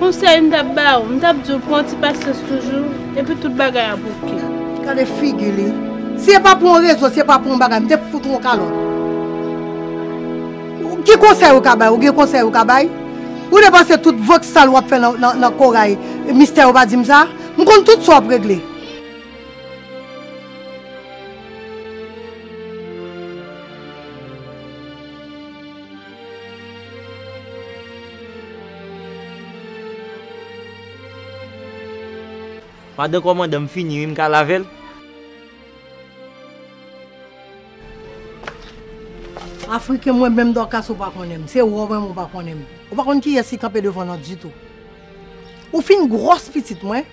Konsèy m tap ba ou, m tap di ou pran ti pasyans toujou, epi tout bagay ap ok. Gade figi li. Si e pa pou yon rezo, si e pa pou yon bagay, m te fout ou yon kalòt. Ki konsèy ou ka bay? Ou gen konsèy ou ka bay? Ou depanse tout vant sal wap fè nan Corail, mistè ou pa di m sa? M konn tout sa wap regle. Madan kòmandan m fini wi m ka lave l? Afriken mwen menm Dorcas ou pa konnen m, se wè w menm ou pa konnen m. Ou pa konn kiyès ki kanpe devan nan ditou. Ou fin gwòs pitit mwen.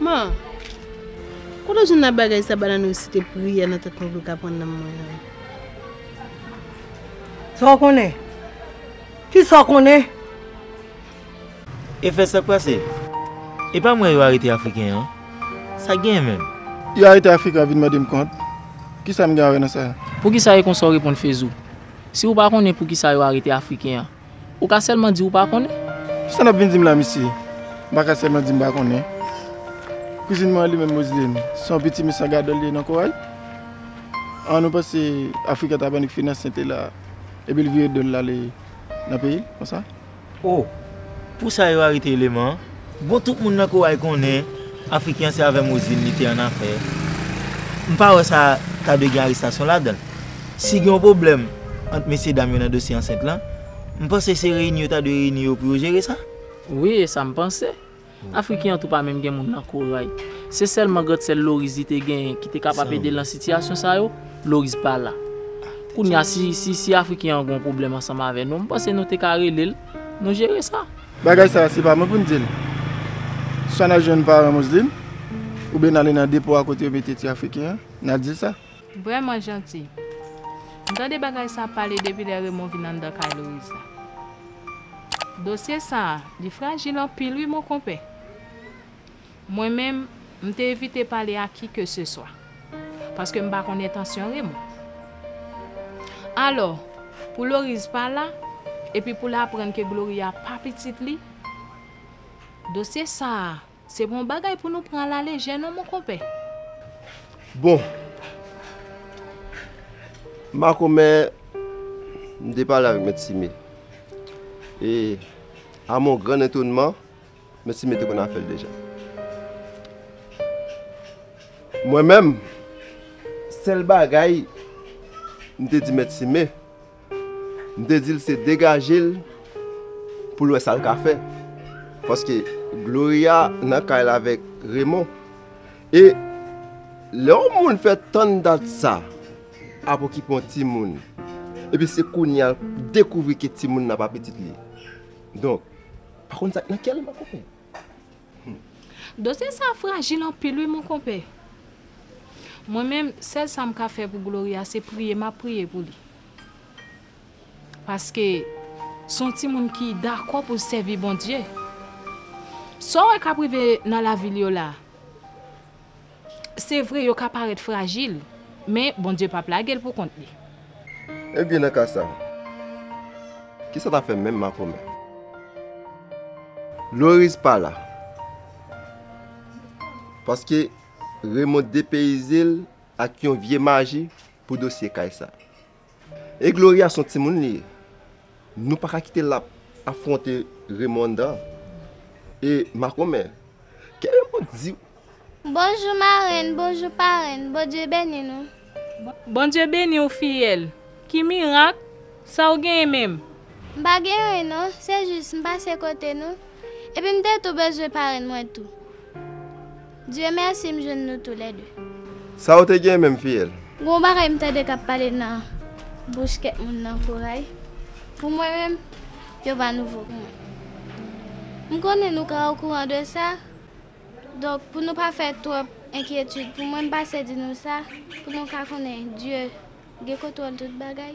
Man, kote w jwenn nan bagay sa banane ou si te priyè nan tèt mwen pou l ka pran nanm mwen an? Sa w konnen? Kisa w konnen? E fè sak pase? E pa mwen yo arete afriken an? Sak genyen menm? Yo arete afriken an vin mande m kont? Kisa m gen a wè nan sa? Poukisa e konsa w reponn Fezou? Si ou pa konnen poukisa yo arete Afriken an, ou ka sèlman di ou pa konnen. Kisa nap vin dim la mesye? M pa ka sèlman di m pa konnen. Kouzin mwen an li menm Moseline, se yon pitimi san gadò li ye nan Koray. An ou panse Afriken ta bannik finanse te la epi li vire do l ale nan peyi l konsa? Oh! Pou sa yo arete eleman an? Bon tout moun nan Koway konnen Afriken an se avè Mozin li te an afè. M pa wè sa ta dwe gen arestasyon ladan l. Si gen yon pwoblèm ant mesye dam yo nan dosye ansent lan, m panse se reyini yo ta dwe reyini yo pou yo jere sa. Wi e sa m panse. Afriken an tou pa menm gen moun nan Koray. Se sèlman grand sè l Loriz li te genyen ki te kapab ede l nan sitiyasyon sa yo, Loriz pa la. Kounye a si si Afriken an gen yon pwoblèm ansanm avè nou, m panse nou te ka rele l, nou jere sa. Bagay sa a se pa mwen pou m di l. Swa n al jwenn paran Moslin, oubyen n ale nan depo a kote yo mete ti Afriken an, n al di l sa. Vrèman janti. M tande bagay sa pale depi lè Remon vin anndan kay Loriz la. Dosye sa li frajil anpil wi mon konpè. Mwen menm, m te evite pale ak ki ke se swa. Paske m pa konn entansyon Remon. Alò, pou Loriz pa la, epi pou l aprann ke Gloria pa pitit li, dosye sa. Se bon bagay pou nou pran a la lejè non mon konpè. Bon. Makomè, m te pale avèk Mèt Sime. E, a mon gran etonman, Mèt Sime te konn afè l deja. Mwen menm, sèl bagay m te di Mèt Sime. M te di l se degaje l pou l wè sa l ka fè paske Gloria nan kay la avèk Remon e lè yon moun fè tann dat sa ap okipe yon timoun epi se kounye a l dekouvri ke timoun nan pa pitit li donk pa konn sa k nan kè l Dosye sa frajil anpil wi mon konpè. Mwen menm sèl sa m ka fè pou Gloria se priye map priye pou li. Paske son timoun ki dakò poul sèvi Bondye. Saw wè kap rive nan lavil yo la. Se vre, yo ka parèt frajil, men Bondye pap lage l poukont li. Ebyen nan ka sa, kisa n ap fè menm makomè? Loris pa la, paske Remon depeyize l ak yon vye maji pou dosye kay sa. E Gloria son timoun li ye. Nou pa ka kite lap afronte Remonda e makomè. Ke Remond diw. Bonjou marenn bonjou parenn Bondye beni nou. Bondye beniw fiyèl. Ki mirak? Sa ou genyen menm? M pa gen anyen non, se jis m pase kote nou, epi m te tou bezwen parenn mwen tou. Dieu merci m jwenn nou tou lè 2. Sa ou te gen menm fiyèl? Gon bagay m tande kap pale nan bouch kèk moun nan koray pou mwen menm yo pa nouvo pou mwen m konnen nou ka okouran de sa donk pou nou pa fè twòp enkyetid pou mwen m pase di nou sa pou nou ka konnen Dye gen kontwòl tout bagay.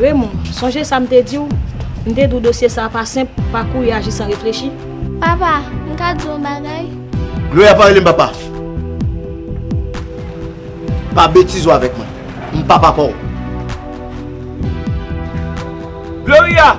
Raymond, sonje sa m te di w? M te di w dosye sa a pa senp, pa kouri aji san reflechi. Papa, m ka di w yon bagay? Gloria pa rele m papa. Pa betize w avèk mwen. M pa papa w. Gloria!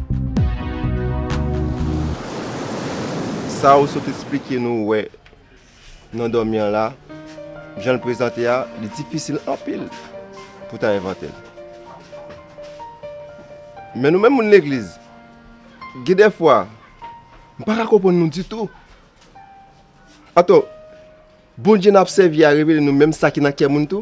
Sa ou sot esplike nou wè nan dòmi an la, jan l prezante a, li difisil anpil pou w ta envante l. Men nou menm moun legliz, gen dèfwa, m pa ka konprann nou ditou. Atò, Bondye n ap sèvi a revele nou menm sa ki nan kè moun tou?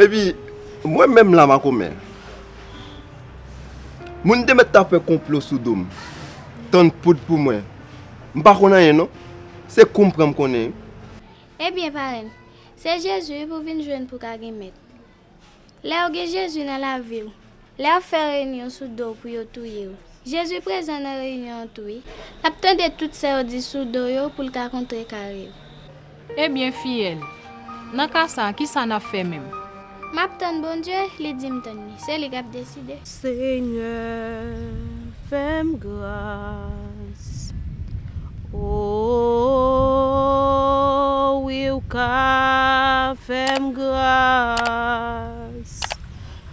Epi mwen menm la makomè. Moun te mèt ta fè konplo sou do m. Tann poud pou mwen. M pa konn anyen non. Se kou m pran m konnen wi. Ebyen parenn, se Jezi wi pou vin jwenn pou ka gen mèt. Lè ou gen Jezi nan lavi w. Lè y'ap fè reyinyon sou do w pou yo touye w. Jezi prezan nan reyinyon an tou wi. L'ap tande tout sa yo di sou do w yo pou l ka kontrekare w. Ebyen fiyèl, nan ka sa a ki sa n'ap fè menm? M'ap tann Bondye, li di m tann li. Se li k'ap deside. Senyè fè m gras o wi ou ka fè m gras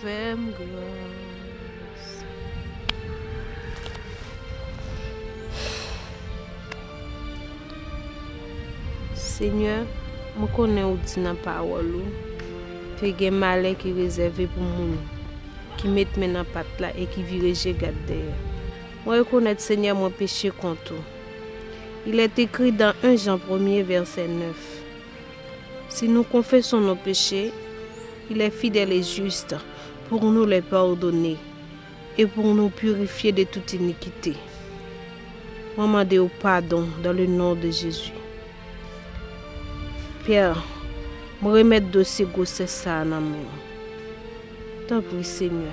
Fèm gras. Senyè, mwen konnen ou di nan pawòl ou ke gen malè ki rezève pou moun ki met men nan pat la e ki vire je gad dèyè. Mwen rekonèt, Senyè, mwen peche kont ou. Il est écrit dans 1 Jean premye vèsè 9. Si nou konfeson nou peche, li le fidel e jist pou nou le padone e pou nou pirifye de tout inikite. Mwen mande ou padon dan le non de Jezi. Pè, mwen remet dosye gwosès sa a nan men ou. Tanpri Senyè.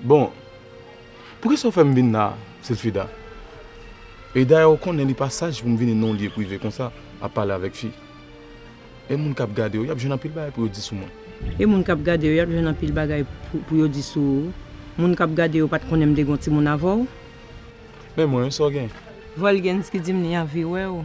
Bon, poukisa ou fè m vin la a, Silfida? E dayè ou konnen li pa saj pou m vini nan yon lye prive konsa ap pale avèk fi. E moun k ap gade ou, y ap jwenn anpil bagay pou yo di sou mwen. E moun k ap gade ou, y ap jwenn anpil bagay pou yo di sou ou. Moun k ap gade ou pa t konnen m te gen yon timoun avè w. Men mwen, sa w gen? Volgenski di m li anvi wè ou.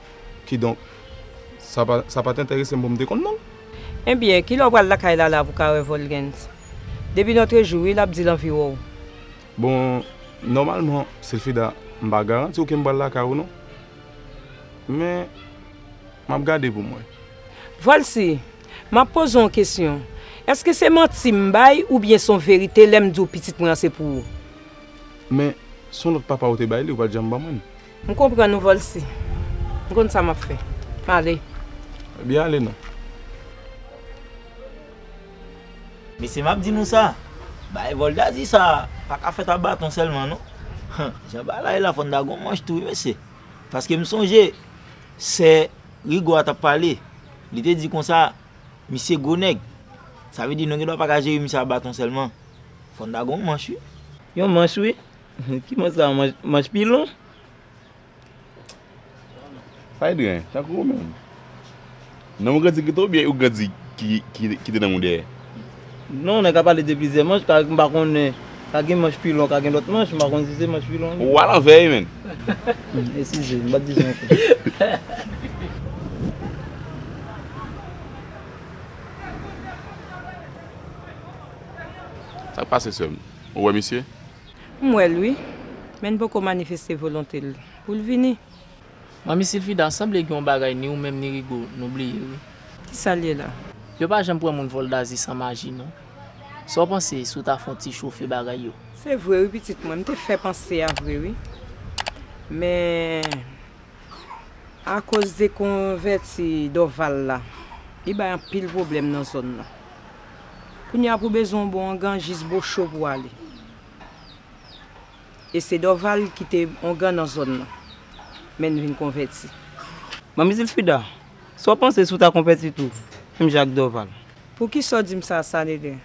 Kidonk, sa pa, sa pa t enterese m pou m te konn non l. Enbyen, kilè w pral lakay Lala pou w ka wè Volgens? Depi notre jou wi l ap di l anvi wè w. Bon, nòmalman, Silfida, m pa garanti w ke m pral lakay ou non. Men, m ap gade pou m wè. Volsi, m ap poze w yon kesyon. Èske se manti m bay oubyen se yon verite lè m di w pitit mwen an se pou ou? Men, se yon lòt papa ou te bay li, ou pa t janm ban mwen l. M konprann ou Volcy. M konn sa map fè. M ale. Ebyen ale non. Mesye map di nou sa, bagay voldazi sa paka fèt a baton sèlman non. Jan bagay la ye la fòn ta gon manch tou wi mesye. Paske m sonje sè Rigo a tap pale, li te di konsa misye gwo nèg. Sa vle di nou gen dwa paka jere misye a baton sèlman. Fòn ta gon manch wi. Yon manch wi. Ki mwen sa manch pilon. Saydren tankou ou menm. Nan ou grandi pito oubyen ou grandi ki te nan ou dèyè? Non nèg ka pale de plizyè manch ka m pa konnen ka gen manch pilon ka gen lòt manch m pa konnen si se manch pilon. Ou alanvè wi menn. Eskize m pa di sa ankò. Sak pase sèm. Ou wè misye? M wè l wi, men n poko manifeste volonte l pou l vini. Manmi Silfida, sanble gen yon bagay ni ou menm ni Rigo nou bliye wi. Kisa l ye la? Yo pa janm pran moun vòl Dazi san maji non. Sa w panse si w ta fè yon ti chofe bagay yo? Se vre wi pitit mwen, m te fè panse a vre wi. Men. Akoz dekonvèti Dorval la, li bay anpil pwoblèm nan zòn nan. Kounye a pou bezwen yon bon ongan jis bo cho pou w ale. E se Dorval ki te ongan nan zòn nan, men n vin konvèti. Manmi Zilfrida, sa w panse si w ta konvèti tou, menm jan ak Dorval? Poukisa w di m sa, Sanedrin?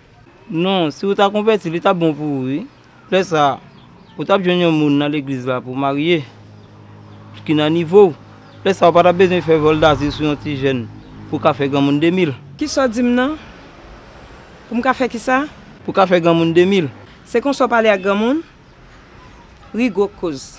Non, si w ta konvèti, li t ap bon pou ou wi. Lè sa a, ou t ap jwenn yon moun nan legliz la pou w marye, ki nan nivo w. Lè sa a, ou pa t ap bezwen fè vòl dazil sou yon ti jèn pou w ka fè granmoun de mil. Ki sa w di m nan? Pou m ka fè ki sa? Pou w ka fè granmoun de mil. Se konsa w pale ak granmoun? Ri gwo koz.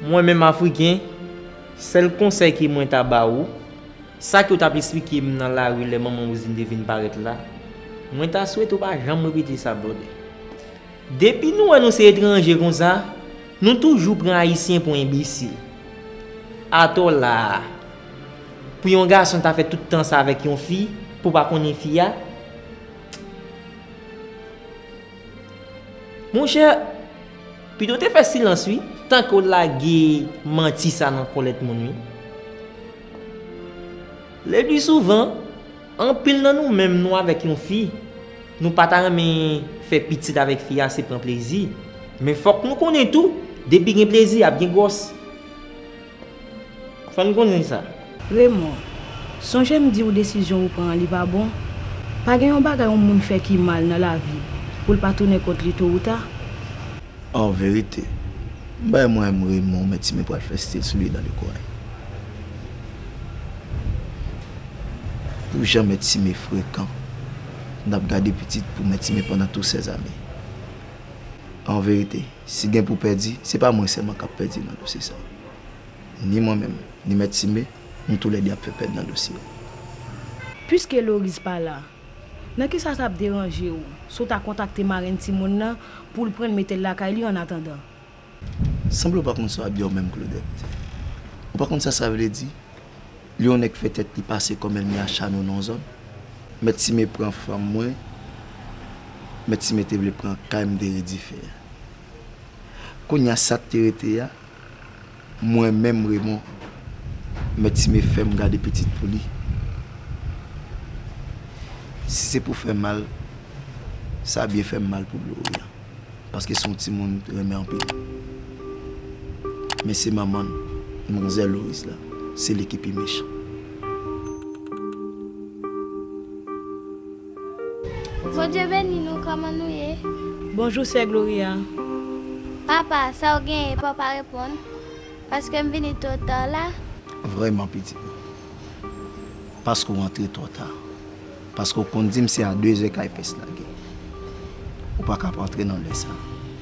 Mwen menm Afriken, sèl konsèy ke mwen ta ba ou, sa ke ou t'ap esplike m nan lari lè manman Roselyne te vin parèt la, mwen ta swete ou pa janm repete sa brother. Depi nou wè nou se etranje konsa, Nou toujou pran ayisyen pou enbesil. Atò la a. Pou yon gason ta fè tout tan sa avèk yon fi pou pa konnen fi a. Monchè, pito w te fè silans wi. Tan ke w lage manti sa nan kòlèt moun wi. Le pli souvan. Anpil nan nou menm nou avèk yon fi, nou pa ta renmen fè pitit avèk fi a se pran plezi, men fòk nou konnen tou depi gen plezi ap gen gwòs. Fò n konnen sa. Raymond, sonje m di w desizyon ou pran an li pa bon? Pa gen yon bagay yon moun fè ki mal nan lavi pou l pa tounen kont li to ou ta. En vérité. M bay mwen m Raymond men Timi pral fè stil sou li nan le coin. Pou jan men Timi frekan nap gade pitit pou men Timi pandan tou sè zane. En vérité si gen pou pèdi se pa mwen sèlman kap pèdi nan dosye sa. Ni mwen menm ni mèt Timi nou tou lè 2 ap fè pèd nan dosye a. Puiske Loris pa la. Nan kisa sa ap deranje ou si w ta kontakte marenn timoun nan pou l pran l mete l lakay li annatandan? Sanble w pa konn sa w ap di a ou menm Claudette. Ou pa konn sa sa vle di lè yon nèg fè tèt li pase kòm èlmi a Chano nan yon zòn? Mèt Sime pran fanm mwen, Mèt Sime te vle pran kay m te redife a. Kounya sa k te rete a, Mwen menm Raymond, mèt Timé fè m gade pitit pou li. Si se pou fè mal, sa byen fè m mal pou Gloria, paske se yon timoun m te renmen anpil. Men se manman l, manzè Loris la, se li ki pi mechan. Bondye beni nou koman nou ye. Bonjou sè gloria. Papa sa ou genyen paw pa reponn paske m vini two ta la. Vreman pitit mwen. Paske ou antre two ta. Paske ou konn dim se a 2 zè kay pès lage. Ou pa ka ap antre nan lè sa.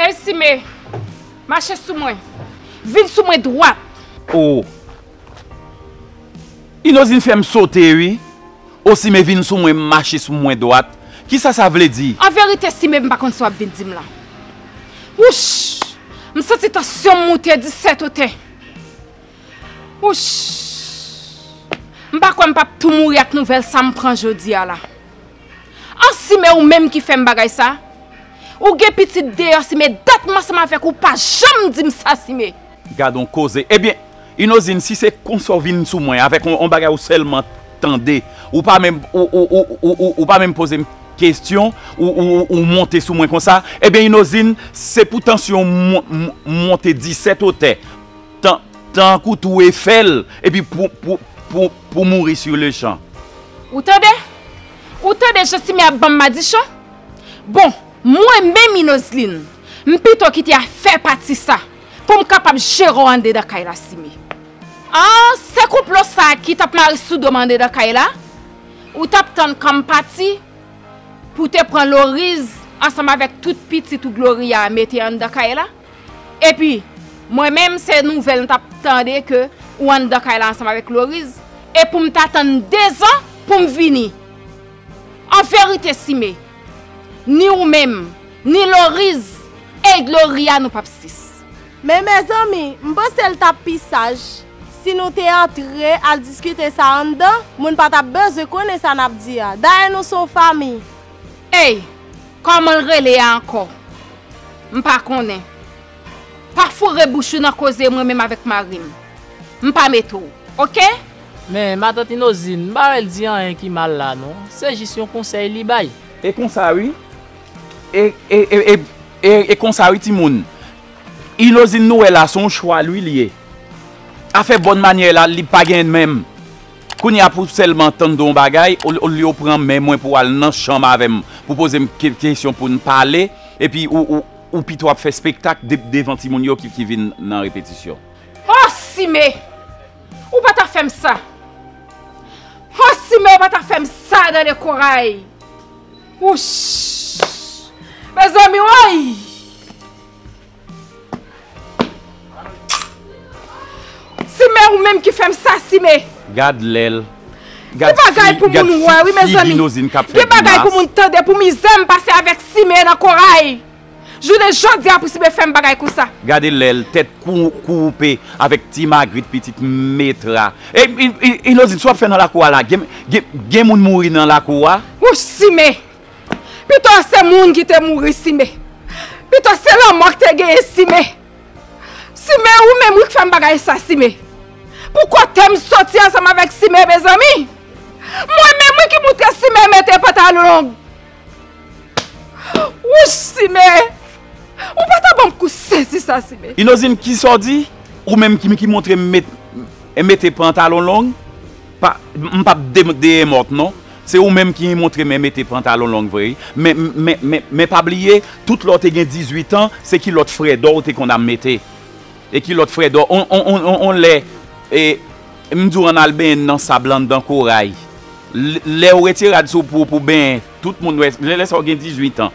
Ey Sime! Mache sou mwen! Vin sou mwen dwat! Oh! Inozin fè m sote wi! Oh Sime vin sou mwen mache sou mwen dwat! Kisa sa vle di? An verite Sime m pa konn sa w ap vin di m la! Wouch! M santi tansyon m moute disèt otè! Wouch! M pa kwè m p ap tou mouri ak nouvèl sa m pran jodi a la! An sime ou menm ki fèm bagay sa Ou gen pitit deyò sime dat m ansanm avèk ou pa janm dim sa sime. Gadon koze ebyen inozin si se konsa ou vin sou mwen avèk on bagay ou sèlman tande ou pa menm ou pa menm pozem kesyon ou monte sou mwen konsa ebyen inozin se pou tansyon m monte disèt otè Tankou tou e fè l epi pou mouri sur le champ. Ou tande? Ou tande jan Simé ap ban m madichon? Bon, mwen menm Inozlin, m pito kite a fè pati sa pou m kapab jere w andedan kay la Simé. An, se konplo sa a ki t ap mare sou do m andedan kay la? Ou t ap tann kan m pati pou w te pran Loriz ansanm avèk tout pitit ou Gloria a mete anndan kay la? Epi Mwen menm se nouvèl m tap tande ke ou anndan kay la ansanm avèk Loriz e poum ta tann 2 zan poum vini An verite Sime Ni ou menm Ni Loriz et Gloria nou pap 6. Men mezanmi m panse l tap pi saj si nou te antre al diskite sa anndan moun pa tap bezwen konnen sa nap di a dayè nou son fanmi. Ey Kòmanl rele a ankò? M pa konnen. Pa foure bouch ou nan koze mwen menm avèk marim. M pa mete w. Ok? Men matant Inozin, m pa wè l di anyen ki mal la non. Se jis yon konsèy li bay. E konsa wi. E, e, e, e, e konsa wi timoun. Inozin nou wè la se yon chwal wi li ye. Afè bòn manyè la li pa gen menm. Kounye a pou sèlman tann de yon bagay ou lye ou pran men mwen pou al nan chanm avè m pou poze m kesyon pou n pale epi ou pito ap fè spektak devan timoun yo ki vin nan repetisyon. Ho Sime! Ou pa ta fè m sa! Ho Sime ou pa ta fè m sa nan de Koray! Wouch! Mezanmi woy! Sime ou menm ki fèm sa sime. Gad lèl Gad fi gad fi binozin kap fè grimas. Gen bagay pou moun tande pou mizèm pase avèk sime nan koray jounen jodia pou sime fèm bagay konsa. Gade lèl tèt koupe avèk ti magrit pitit metra ey inozin sa wap fè nan lakou a la gen moun mouri nan lakou a. Wouch sime. Pito se moun ki te mouri sime. Pito se lanmò ki te genyen sime. Sime ou menm wi ki fèm bagay sa sime. Pou kotem soti ansanm avèk sime mezanmi. Mwen menm wi ki moutre sime mete pantalon long. Wouch sime. Ou pata banm kou sezi sa sime. Inozin kisa ou di? Ou menm ki moutrem mete pantalon long. Mpap deyemòt non. Se ou menm ki montre men mete pantalon long vre wi. Men men men men pa bliye tout lè w te gen 18 ans se kilòt frèdò ou te konn am mete. E kilòt frèdò on on on on on lè e m di w ann al benyen nan sab lan anndan koray. Lè ou retire rad sou pou pou benyen tout moun wè lè sa ou gen 18 ans.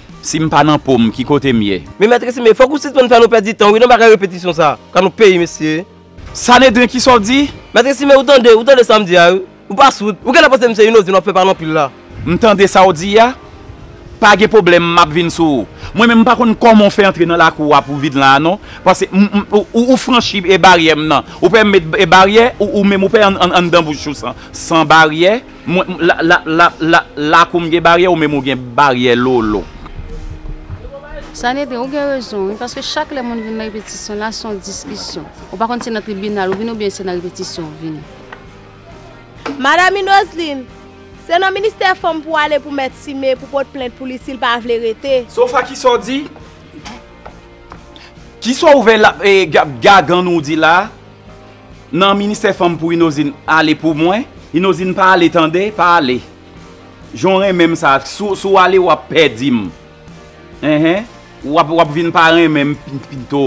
Sim pa nan pom ki kote m ye. Men mèt Resime, fòk ou sispann fè nou pèdi tan wi nan bagay repetisyon sa. Ka nou peyi mesye. Sanedren kisa w di? Mèt Resime ou tande, ou tande sa m di a wi. Ou pa soud. Ou genlè panse m se yon ozin w ap fè pale anpil la. M tande sa w di a. Pa gen pwoblèm m ap vin sou ou. Mwen menm m pa konn kòman w fè antre nan lakou a pou vin la a non. Pase m, m, ou franchi baryè m nan. Ou pè m met baryè, ou menm ou pè anndan bouch ou san baryè. Mwen m la la la la lakou m gen baryè ou menm ou gen baryè lolo. Sanedrin ou gen rezon wi paske chak lè moun vin nan repetisyon la son diskisyon ou pa konn se nan tribinal ou vini oubyen se nan repetisyon ou vini. Madam Minoslin, se nan ministè fanm pou ale pou mèt Sime pou pot plent pou li sil pa vle rete. Sofa kisa w di? Kisa w vè la e gagann ou di la? Nan ministè fanm pou inozin ale pou mwen inozin pa ale tande pa ale jan w renmen m sa si w ale wap pèdi m wap vin pa renmen m pito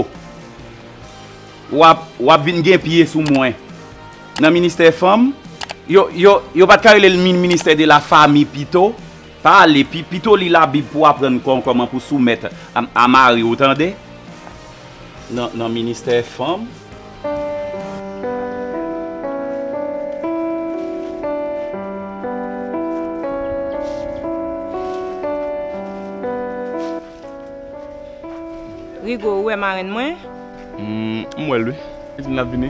wap vin gen pye sou mwen nan ministè fanm yo pat ka rele l ministè de la fami pito pa ale pito li labib pou aprann kòman pou soumèt a mari w tande. nan ministè fanm. Rigo ou wè marenn mwen? M wè l wi. Li di l ap vini.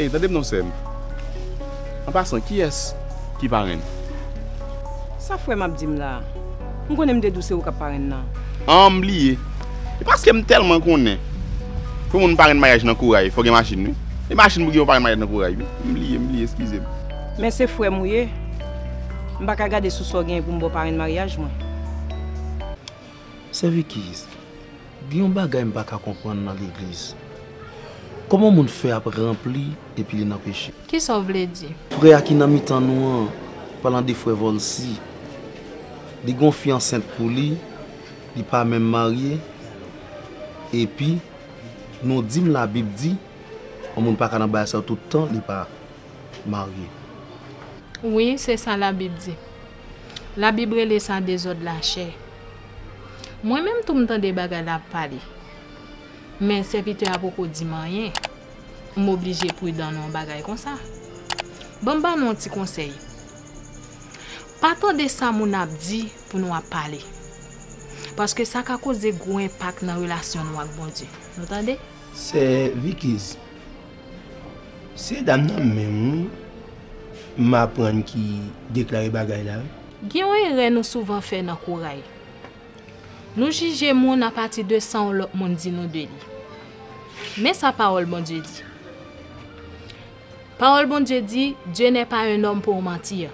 Ey tandem non sèm an pasan kiyès ki parenn. Sa frèm ap dim la. M konnen m te di w se ou kap parenn nan. An m bliye. E paske m tèlman konnen pou moun parenn maryaj nan koray fò gen machin wi. E machin pou gen yon parenn maryaj nan koray wi. M bliye m bliye eskize m. Men se frèm ou ye, m paka gade sou sa w genyen pou m ba w parenn maryaj mwen. Sè Vicky, gen yon bagay m paka konprann nan legliz. Kòman moun fè ap ranpli epi li nan peche? Kisa w vle di? Frè a ki nan mitan nou an, palan de frè Volcy, li gen yon fi ansent pou li, li pa menm marye, epi nou di m labib di yon moun paka nan bagay sa yo tout tan li pa. marye. Wi, se sa Labib di. Labib rele sa dezòd lachè. Mwen menm tou m tande bagay la ap pale. Men sèvitè a poko di m anyen. M oblije pridan nan yon bagay konsa. Ban m ba nou yon ti konsèy. Pa tande sa moun ap di pou nou ap pale. Paske sa ka koze gwo enpak nan relasyon nou ak Bondye. Nou tande? Sè Vikiz, Se dam nan menm wi m aprann ki deklare bagay la wi. Gen yon erè nou souvan fè nan koray. Nou jije moun apati de sa yon lòt moun di nou de li. Men sa pawòl Bondye di. Pawòl Bondye di, Dieu n'est pas un homme pour mentir.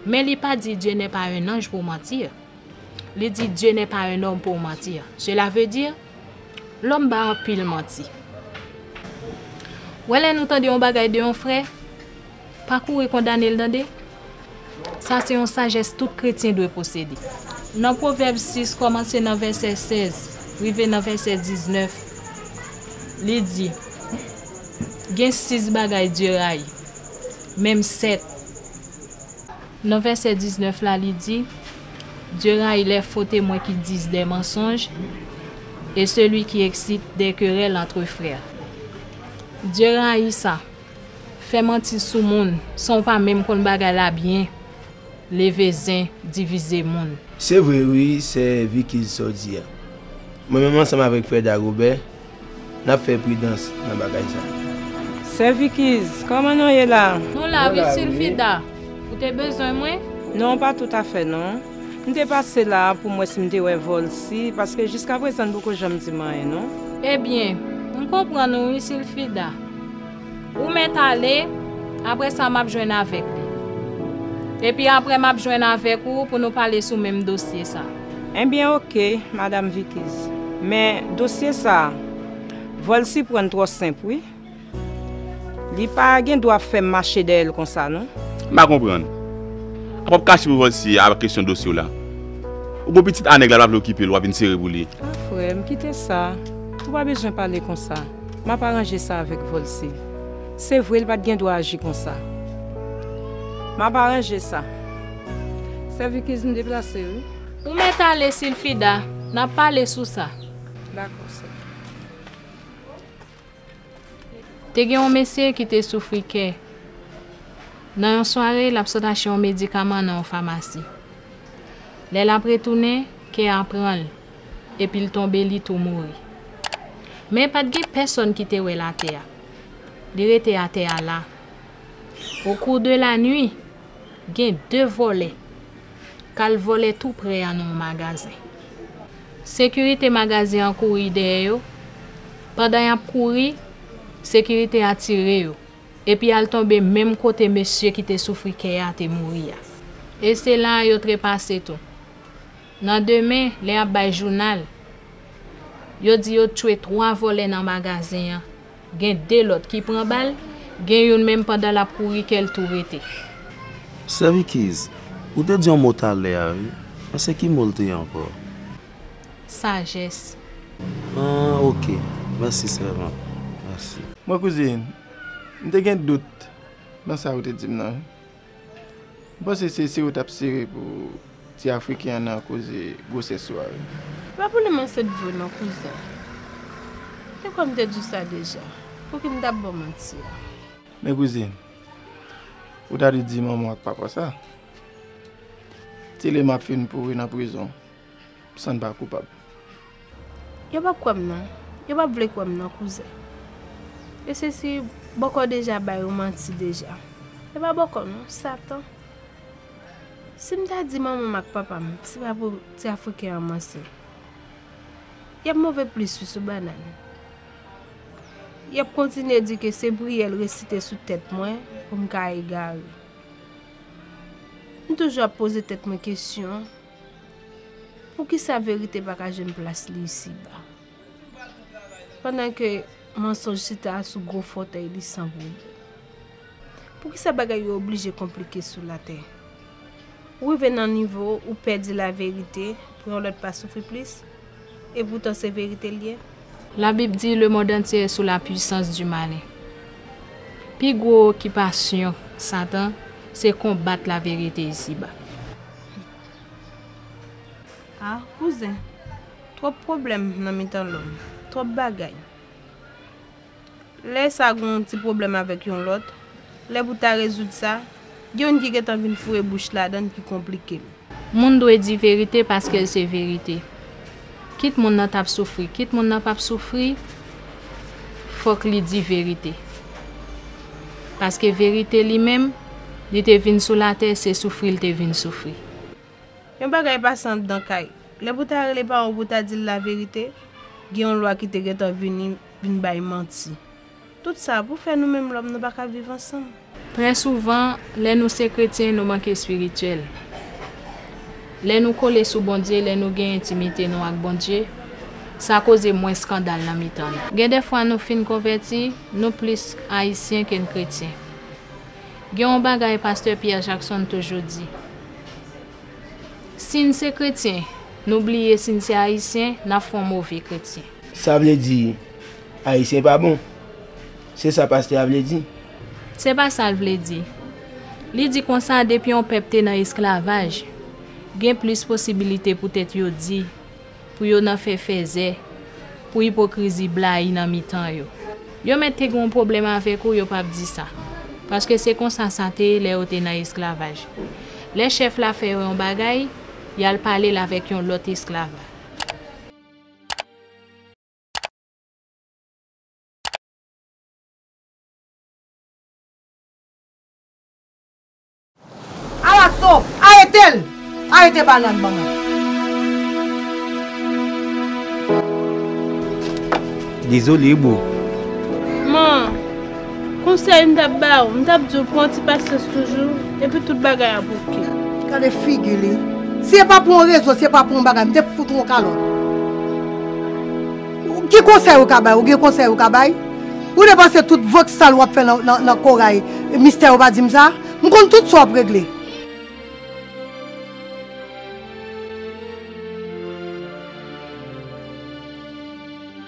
Men li pa di Dieu n'est pas un ange pour mentir. Li di Dieu n'est pas un homme pour mentir. Cela veut dire, Lòm ba anpil manti. Wè lè nou tande yon bagay de yon frè, pa kouri kondane l tande. Sa se yon sajès tout kretyen dwe posede. Nan Pwovèb 6 kòmanse nan vèsè 16 rive nan vèsè 19, li di, Gen sis bagay Dye rayi, menm sèt. Nan vèsè 19 la li di. Dieu rayi les faux témoins qui disent des mensonges et celui qui excite des querelles entre frères. Dieu rayi sa. Fè manti sou moun san w pa menm konn bagay la byen, leve zen, divize moun. Se vre wi sè Vicky sa w di a. Mwen menm ansanm avèk frè Dagobè. Nap fè pridans nan bagay sa. Sè Vikiz, kòman non ye la? Nou la wi Sulfida, ou te bezwen mwen? Non pa tout a fè non. M te pase la a pou m wè si m te wè Volcy, paske jiska prezan n poko janm di m anyen non. Ebyen, m konprann ou wi Sulfida. Ou mèt ale, aprè sa map jwenn avèk li. Epi aprè map jwenn avèk ou pou nou pale sou menm dosye sa. Enbyen ok madam vikiz men dosye sa vòl siprann twò senp wi li pa gen dwa ap fèm mache dèyèl konsa non. M pa konprann. Apa wap kache pou vòl si a kesyon dosye w la. Ou gon pitit a nèg la pa vle okipe l wap vin sere pou li. Ah frè m kite sa ou pa bezwen pale konsa map aranje sa avèk vòl si se vre li pat gen dwa aji konsa map aranje sa. Sèvi kizin deplase wi. Ou mèt ale Silfida, n ap pale sou sa. Dakò sè. Te gen yon mesye ki te soufri kè. Nan yon sware, l ap sot achte yon medikaman nan yon famasi. Lè l ap retounen, kè a pran l, epi l tonbe li tou mouri. Men pa t gen pèsòn ki te wè l atè a. Li rete atè a la. Au cours de la nuit. Gen de vòlè k al vòlè tou prè a nan yon magazen. Sekirite magazen an kouri dèyè yo, pandan y ap kouri, sekirite a tire yo, epi al tonbe menm kote mesye ki te soufri kè a te mouri a. E se la a yo trepase tou. Nan demen, lè y ap bay jounal, yo di yo t chwe twa vòlè nan magazen an. Gen 2 lòt ki pran bal, gen youn menm pandan lap kouri kèl tou rete. Sèvikiz, Ou te di yon mo talè a wi, men se ki mo l te ankò? Sajès. An ok, mèsi sèvant, mèsi. Mwen kouzin, m te gen dout nan sa ou te di m nan wi. M panse se sere tap sere pou ti afriken an nan koze gwosès swa wi. M pa pou li mwen se bgy non kouzen. Te kwè m te diw sa deja. Pouki m tap baw manti a. Men kouzin, ou ta dwe di manman w ak papa w sa. Tele map fin pouri nan prizon. San pa koupab. Yo pap kwèm non. Yo pap vle kwèm non kouzen. E se si bòkò deja bay ou manti deja. E pa bòkò non, satan. Si m ta di manman m ak papa m se pa pou ti afriken an manse. Y ap move plis wi sou banann. Y ap kontinye di ke se priyè l resite sou tèt mwen pou m ka egare. M toujou ap poze tèt mwen kesyon. Poukisa verite pa ka jwenn plas li isiba? Pandan ke mansonj chita sou gwo fòtèy li san bwoubou. Poukisa bagay yo oblije konplike sou latè? Ou rive nan nivo ou pè di laverite pou yon lòt pa soufri plis? Epoutan se verite l ye? Labib di le mond antye e sou la pwisans di malen. Pi gwo okipasyon Satan se konbat laverite isiba. Ah kouzen, twòp pwoblèm nan mitan lòm, twòp bagay. Lè sa gen yon ti pwoblèm avèk yon lòt, lè pou ta rezoud sa, gen youn ki gentan vin foure bouch ladan l ki konplike l. Moun dwe di verite paske l se verite. Kit moun nan tap soufri kit moun nan pap soufri fok li di verite paske verite li menm li te vin sou latè se soufri li te vin soufri. Yon bagay pa san dan kay. Lè pou ta rele paran w pou ta di l laverite, gen yon lwa ki te gentan vini vin bay manti. Tout sa pou fè nou menm lòm nou pa ka viv ansanm. Trè souvan, lè nou se kretyen nou manke espirityèl. Lè nou kole sou Bondye, lè nou gen entimite nou ak Bondye, sa koze mwens skandal nan mitan nou. Gen de fwa nou fin konvèti, nou plis Ayisyen ke n kretyen. Gen yon bagay pastè Pierre Jackson toujou di, Si n se kretyen, nou bliye si n se Ayisyen, n ap fè yon move kretyen. Sa vle di, Ayisyen pa bon. Se sa pastè a vle di. Se pa sa l vle di. Li di konsa depi yon pèp te nan esklavaj, gen plis posibilite poutèt yo di, pou yo nan fè fèzè, pou ipokrizi blayi nan mitan yo. Yo mèt te gen yon pwoblèm avèk ou yo pap di sa. Paske se konsa sa te ye lè yo te nan esklavaj. Lè chèf la fè yo yon bagay, y al pale l avèk yon lòt esklav. Alaso! Arete l! Arete banann ban mwen! Dezole boo. M'en. Konsèy m tap ba ou, m tap di ou pran ti pasyans toujou, epi tout bagay ap ok. Gade figi li. Si e pa pou yon rezo, si e pa pou yon bagay, m te fout ou yon kalòt. Ki konsèy ou ka bay? Ou gen konsèy ou ka bay? Ou depanse tout vant sal wap fè nan Corail, Mister ou pa di m sa? M konn tout sa wap regle.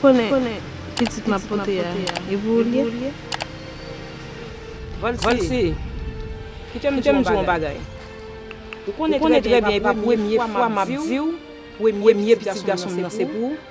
Ou konnen pitit map pote a e pou ou li ye? Vansi, kitem diw yon bagay. Ou konnen trè byen epa premye fwa map diw premye pitit gason m nan se pou ou.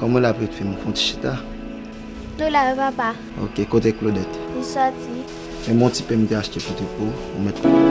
Koman lap ret fim fon ti chita. Nou la wi papa. Ok kote Claudette. Li soti. Men bon ti pen m te achte pou trip ou. Ou met konnen.